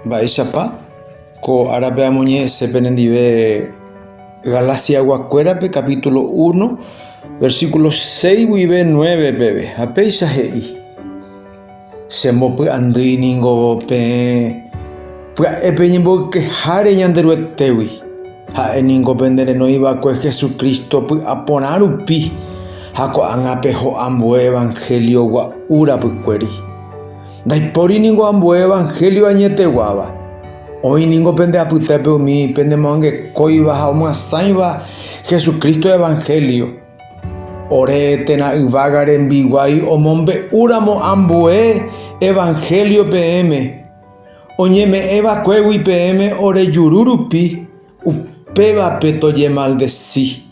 Mba'éichapa? Ko árape amoñe'ẽse penendive Galasiaguakuérape kapítulo 1, versíkulo 6 guive 9 peve, ha péicha he'i, Chembopy'andýi ningo peẽ pya'e peñemboykeháre Ñanderuetégui, ha'e ningo pende renoi va'ekue Jesucristo py'aporã rupi ha ko'ág̃a peho ambue evanhélio gua'u rapykuéri. Ndaipóri ningo ambue evanhélio añeteguáva. Oĩ ningo pende apytépe umi penemoangekóiva ha omyasãiva Jesucristo evanhélio. Ore térã yvága rembiguái omombe'úramo ambue evanhélio peẽme, oñeme'ẽvakuégui peẽme ore juru rupi, upévape tojemaldesi.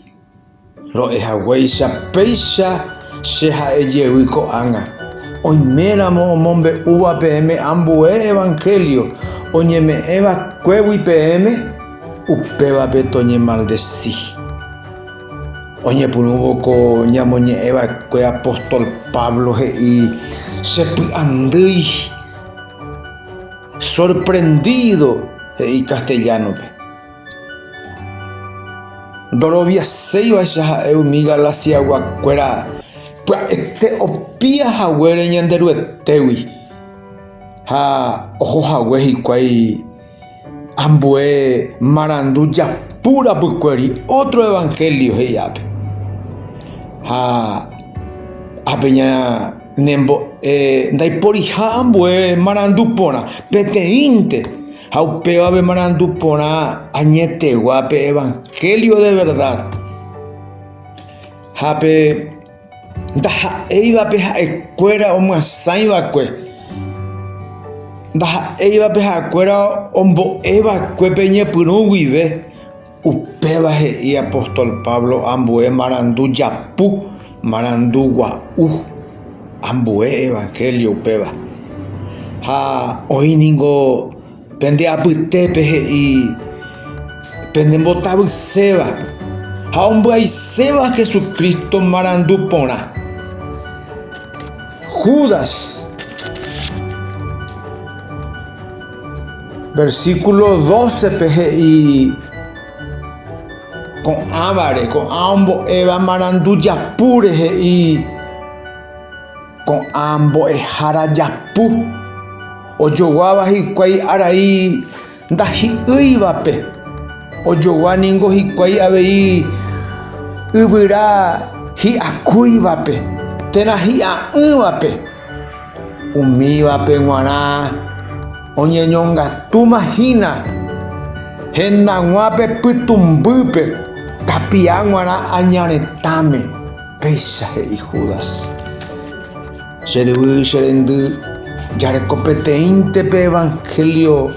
Ro'e haguéicha péicha che ha'e jevy ko'ág̃a, oiméramo omombe'úva peẽme ambue evanhélio oñeme'ẽ vakuégui peẽme, upévape toñemaldesi. Oñepyrũvo ko ñamoñe'ẽ va'ekue apóstol Pablo he'i, Che py'andýi, sorprendido he'i castellano-pe. Ndoroviaséivaicha ha'e umi Galaciaguakuéra pya'ete opia haguére Ñanderuetégui ha oho hague hikuái ambue marandu japu rapykuéri ótro evanhélio he'iápe. Ha ápe ñanembo'e ndaiporiha ambue marandu porã, peteĩnte. Ha upéva pemarandu porã añetegua pe evangelio de verdad. Ha pe ndaha'éivape ha'ekuéra omyasãiva'ekue. Ndaha'éivape ha'ekuéra ombo'eva'ekue pe ñepyrũ guive. Upéva he'i apóstol Pablo ambue marandu japu, marandu gua'u ambue evangélio upéva. Ha oĩ ningo pende apytépe he'i pende mbotavyséva ha ombyaiséva Jesucristo marandu porã. Judas. Versículo 12-pe he'i ko'ãvare, ko'ã ombo'éva marandu japúre he'i ko'ã mbo'ehára japu, ojoguáva hikuái arai ndahi'ỹivape, ojogua ningo hikuái avei yvyra hi'akúivape térã hi'a'ỹvape. Umívape g̃uarã oñeñongatúma hína hendag̃ua pe pytũmbýpe tapia g̃uarã aña retãme, péicha he'i Judas. Che ryvy, che rendy, jareko peteĩnte pe evangelio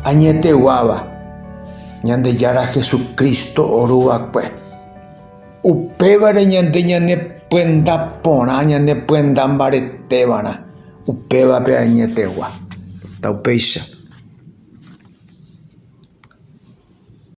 añeteguáva, Ñandejára Jesucristo oruva'ekue. Upévare ñande ñanepyenda porã, ñanepyenda mbaretévara, upévape añetegua. Upéicha.